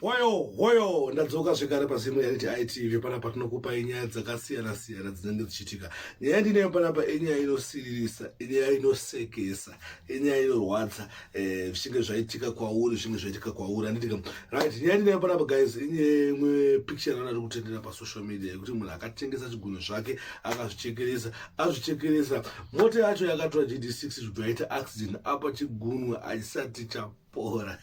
Hoyo hoyo ndadzoka zvekare pazimu yariti ITV pana patinokupa inyaya dzakasiyana siyana dzinenge dzichitika. Nyaya ndineyo pana pa inyaya inosiririsa, inyaya inosekesa, inyaya inorwadza eh zvinge zvaitika kwauri, zvinge zvaitika kwauri. Anditi right nyaya ndineyo pana pa guys inyaya imwe picture rana rikutendera pa social media yekuti munhu akatengesa chigunwe zvake akazvichekeresa, azvichekeresa. Mota yacho yakatora GD6 zvibvaita accident apa chigunwe achisati cha pora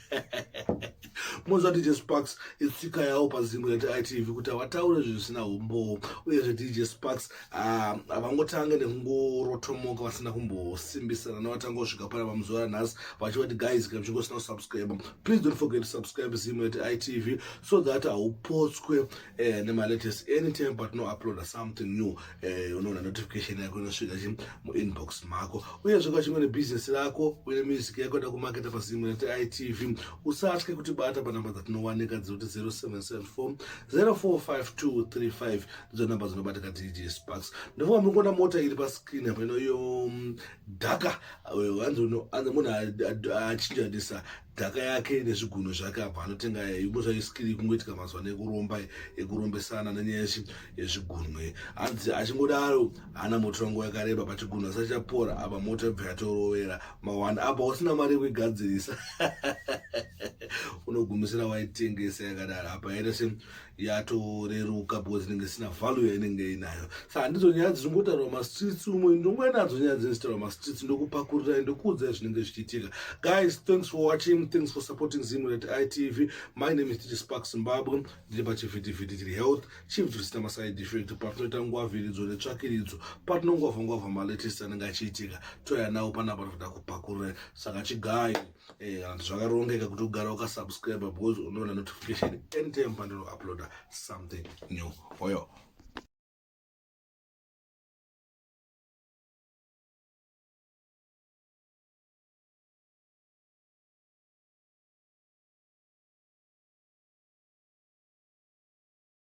munzwa dj sparks itsika yawo pazingo yetv kuti havataure zvisina umbowo uyezve dj sparks ah, havangotange nekungorotomoka vasina kumbosimbisana nevatanga kusvika pana vamuzora nhasi vachivati guys kana uchinge usina kusubscribe please don't forget to subscribe zimo yetv so that haupotswe eh, nemalatest anytime patinouploada something new eh, unoona notification yako inosvika chi muinbox mako uyezve kwachimwe nebusiness rako uye music yako yoda kumaketa pasimwe nati itv usatye kuti bata panamba dzatinowanika dzekuti 0774 045235 ndidzo namba dzinobata ka dj sparks ndofamba mukuona mota iri pascreen apa inoyo mm, dhaka eh, anzi munhu achinjanisa dhaka yake nezvigunwe zvake apa anotenga yumbo zvayo skiri kungoitika mazuva ano ekuromba ekurombesana nenyaya yezvigunwe hanzi achingodaro hana moto wangu yakareba pachigunwe asi achapora apa moto yabva yatorovera mawanda apa usina mari yekuigadzirisa unogumisira waitengesa yakadaro apa yaita se yatoreruka because inenge isina value yainenge inayo sa handidzo nyaya dzichongotaurwa mastreets umwe ndonguva nadzo nyaya dzinozotaurwa mastreets ndokupakurira ndokuudzai zvinenge zvichiitika guys thanks for watching thanks for supporting zimret itv my name is titi spark zimbabwe ndiri pachivhitivhiti tiri health chief zvisina maside effect patinoita nguva vhiridzo netsvakiridzo patinongwavha ngwavha malatest anenge achiitika toya nawo panapa tinoda kupakurira saka chigayo Eh, and zvakarongeka kuti ugara ukasubscribe because unoona notification anytime pandinouploada something new oyo